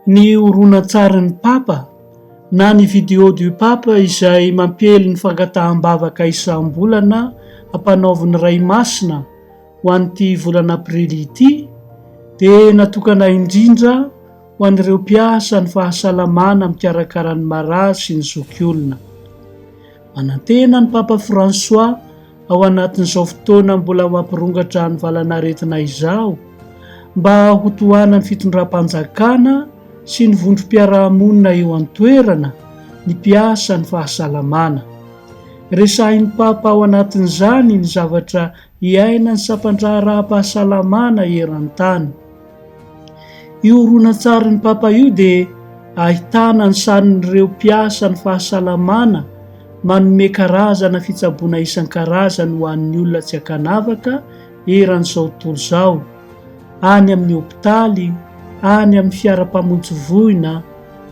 ny horonantsarin'ny Papa na ny vidéo du Papa izay mampiely ny fangataham-bavaka isam-bolana ampanaovin'ny Ray Masina Ho an'ity volana aprily ity dia natokana indrindra ho an'ireo mpiasa ny fahasalamana mikarakara ny marary sy ny zokiolona. Manantena ny Papa Fransoà ao anatin'izao fotoana mbola ho ampirongatra ny valan'aretina izao mba ho tohanan'ny fitondram-panjakana sy ny vondrom-piarahamonina eo an-toerana ny mpiasa ny fahasalamana. Resahin'ny Papa ao anatin'izany ny zavatra Hiaina ny sampan-draharaham-pahasalamana eran-tany. Io horonantsarin'ny Papa io dia ahitana ny sarin'ireo mpiasa ny fahasalamana manome karazana fitsaboana isan-karazany ho an'ny olona tsy ankanavaka eran'izao tontolo izao, any amin'ny hopitaly, any amin'ny fiaram-pamonjy voina,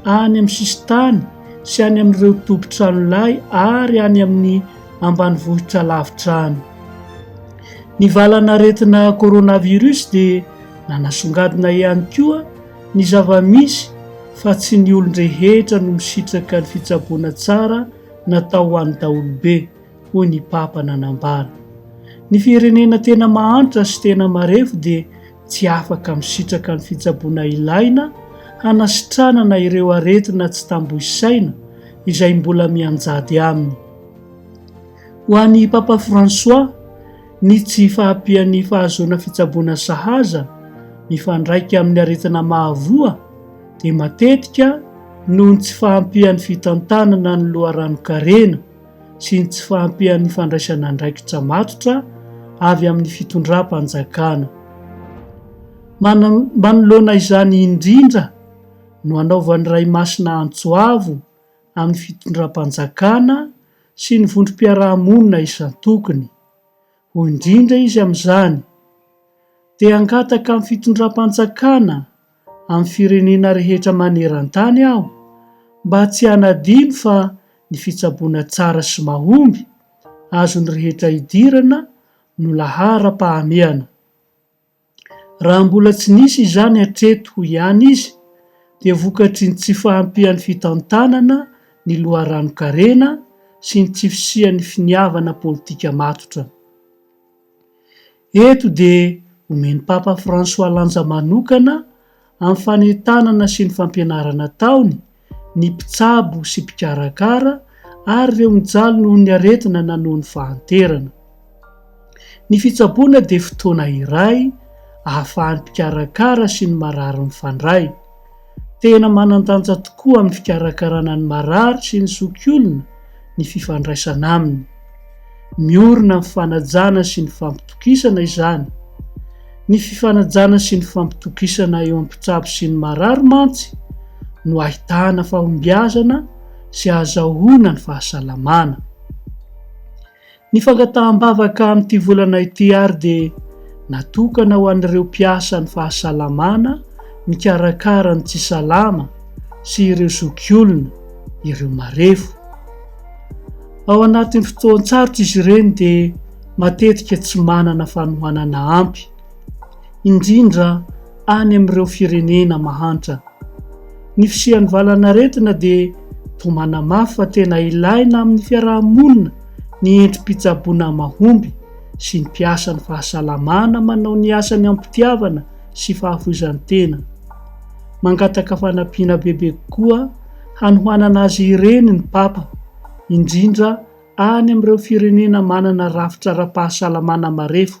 any amin'ny sisin-tany sy any amin'ireo tobin-tranolay ary any amin'ny ambanivohitra lavitra any. Ny valan'aretina coronavirus dia nanasongadina ihany koa ny zava-misy fa tsy ny olon-drehetra no misitraka ny fitsaboana tsara natao ho an'ny daholobe, hoy ny Papa nanambara. Ny firenena tena mahantra sy tena marefo dia tsy afaka misitraka ny fitsaboana ilaina hanasitranana ireo aretina tsy tambo isaina izay mbola mianjady aminy. Ho an'i Papa François, ny tsy fahampian'ny fahazoana fitsaboana sahaza mifandraika amin'ny aretina mahavoa dia matetika noho ny tsy fahampian'ny fitantanana ny loharanon-karena sy ny tsy fahampian'ny fandraisana andraikitra matotra avy amin'ny fitondram-panjakana. Manoloana izany indrindra no anaovan'ny Ray Masina antso avo amin'ny fitondram-panjakana sy ny vondrom-piarahamonina isan-tokony. Hoy indrindra izy amin'izany, Te hangataka amin'ny fitondram-panjakana amin'ny firenena rehetra maneran-tany aho mba tsy hanadino fa ny fitsaboana tsara sy mahomby azon'ny rehetra idirana no laharam-pahamehana. Raha mbola tsy nisy izany hatreto ihany izy dia vokatry ny tsy fahampian'ny fitantanana ny loharanon-karena sy ny tsy fisian'ny finiavana politika matotra. Eto dia omen'i Papa Fransoà lanja manokana amin'ny fanentanana sy ny fampianarana ataony ny mpitsabo sy mpikarakara ary ireo mijaly noho ny aretina na noho ny fahanterana. Ny fitsaboana dia fotoana iray ahafahan'ny mpikarakara sy ny marary mifandray. Tena manan-danja tokoa amin'ny fikarakarana ny marary sy ny zokiolona ny fifandraisana aminy. Miorina amin'ny fanajana sy ny fampitokisana izany. Ny fifanajana sy ny fampitokisana eo amin'ny mpitsabo sy ny marary mantsy no ahitana fahombiazana sy ahazahoana ny fahasalamana. Ny fangataham-bavaka amin'ity volana ity ary dia natokana ho an'ireo mpiasan'ny fahasalamana mikarakara ny tsy salama sy ireo zokiolona, ireo marefo. Ao anatin'ny fotoan-tsarotra izy ireny dia matetika tsy manana fanohanana ampy, indrindra any amin'ireo firenena mahantra. Ny fisian'ny valanaretina dia toa manamafy fa tena ilaina amin'ny fiaraha-monina ny endri-pitsaboana mahomby sy ny mpiasan'ny fahasalamana manao ny asany am-pitiavana sy fahafoizan-tena. Mangataka fanampiana bebe kokoa hanohanana azy ireny ny Papa, indrindra any amin'ireo firenena manana rafitra ara-pahasalamana marefo,